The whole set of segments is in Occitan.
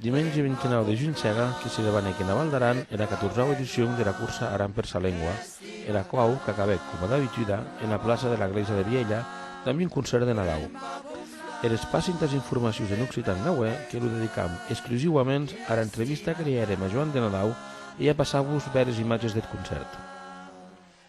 Dimenge 29 de junh serà que se debanèc ena Val d'Aran era catorzau edicion dera cursa Aran per sa Lengua, era quau qu'acabèc, coma d'abituda, ena plaça dera glèisa de Vielha damb un concèrt de Nadau. Er espaci entàs informacions en occitan n'aué que lo dedicam exclusiuaments ara entrevista que li hèrem a Joan de Nadau e ja passar-vos bères imatges deth concèrt.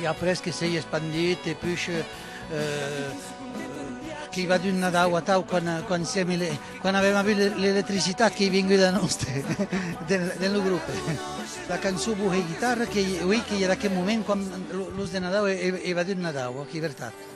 E après que s'ei espandit e push qu'ei va d'un Nadau a tau quan quan siem ele quan avem avut l'electricitat qu'ei vengut a noste den den lo grupe. La cançó Bohé guitarra qu'ei ui qu'ei er aquel moment quan los de Nadau ei va d'un Nadau, ok, vertat.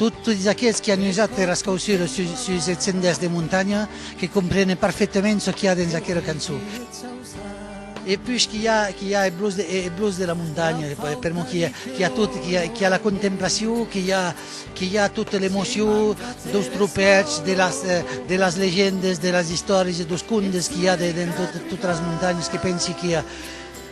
Totes aquels qui an usat era escausura sus eth sendèrs de montanha que comprenen parfetament çò qu'i a dens aquera cançon. E puish qu'i a eth blues de la montanha, per mon qu'i a tot, qu'i a la contemplacion, qu'i a tota l'emocion deus tropèths, de las legendes, de las istòries e deus contes qu'i a dens totes las montanhes, que pensi qu'i a.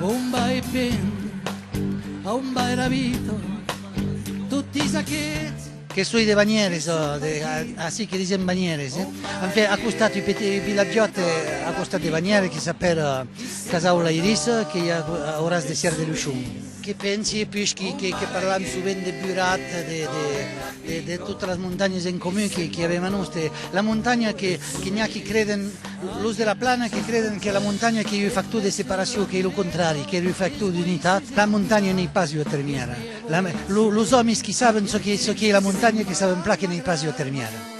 On va e pen? A on va era vita? Totis aquets. Que soi de Banyeres, ací que disèm Banyeres, eh? En fait, a costat, un petit vilatjòt a costat de Banyeres que s'apèla Casaula-Irissa, que i a auras de Sièr de Luchon. Que pensi e puishi que parlam sovent de burat, de totas las montanhas en comun que avèm a nos, de la montanha que n'i a qui creden, los de la plana que creden que la montanha qu'ei un factor de separacion, qu'ei lo contrari, qu'ei un factor d'unitat. La montanha n'ei pas ua termièra. Los òmis qui saben çò qu'ei la montanha que saben plan que n'ei pas ua termièra.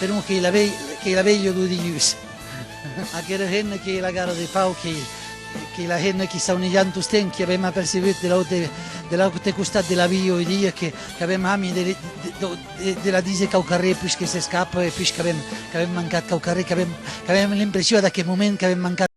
Per un qu'ei la vei, qu'ei la veilha do dilhús. Aquera hena qu'ei la gara de Pau, qu'ei, qu'ei la hena qui saunejant tostemp, qui avèm apercebut de l'aute, de l'aute costat de la via oi dia, que, qu'avèm hami de, de, de la díser quauquarré pus que s'escapa e pus qu'avèm, qu'avèm mancat quauquarré, qu'avèm, qu'avèm l'impressioa d'aqueth moment qu'avèm mancat.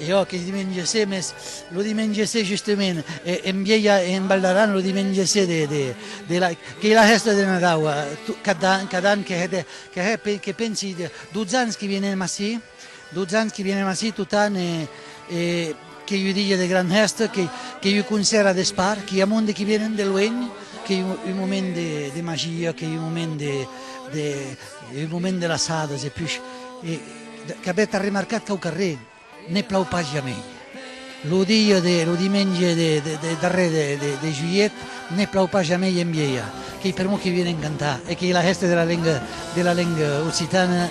Jo que dimenge se, mes lo dimenge se justement en Vielha e en Val d'Aran lo dimenge se de de de la qu'ei la hèsta de Nadau cada an cada an que hè de que hè que pensi 12 ans que vienem ací 12 ans que vienem ací totan e e qu'ei un dia de gran hèsta que qu'ei un concèrt a despart que i a monde que vienen de luenh qu'ei un moment de de magia qu'ei un moment de de un moment de laçadas e puish e Qu'avètz arremarcat qu'au carrèr ne plau pas jamei. Lo dia de, lo dimenge de, de darrèr de, de, de julhet, ne plau pas jamei en Vielha. Qu'ei per mo que vienen cantar e qu'ei la hèsta de la lenga, de la lenga occitana.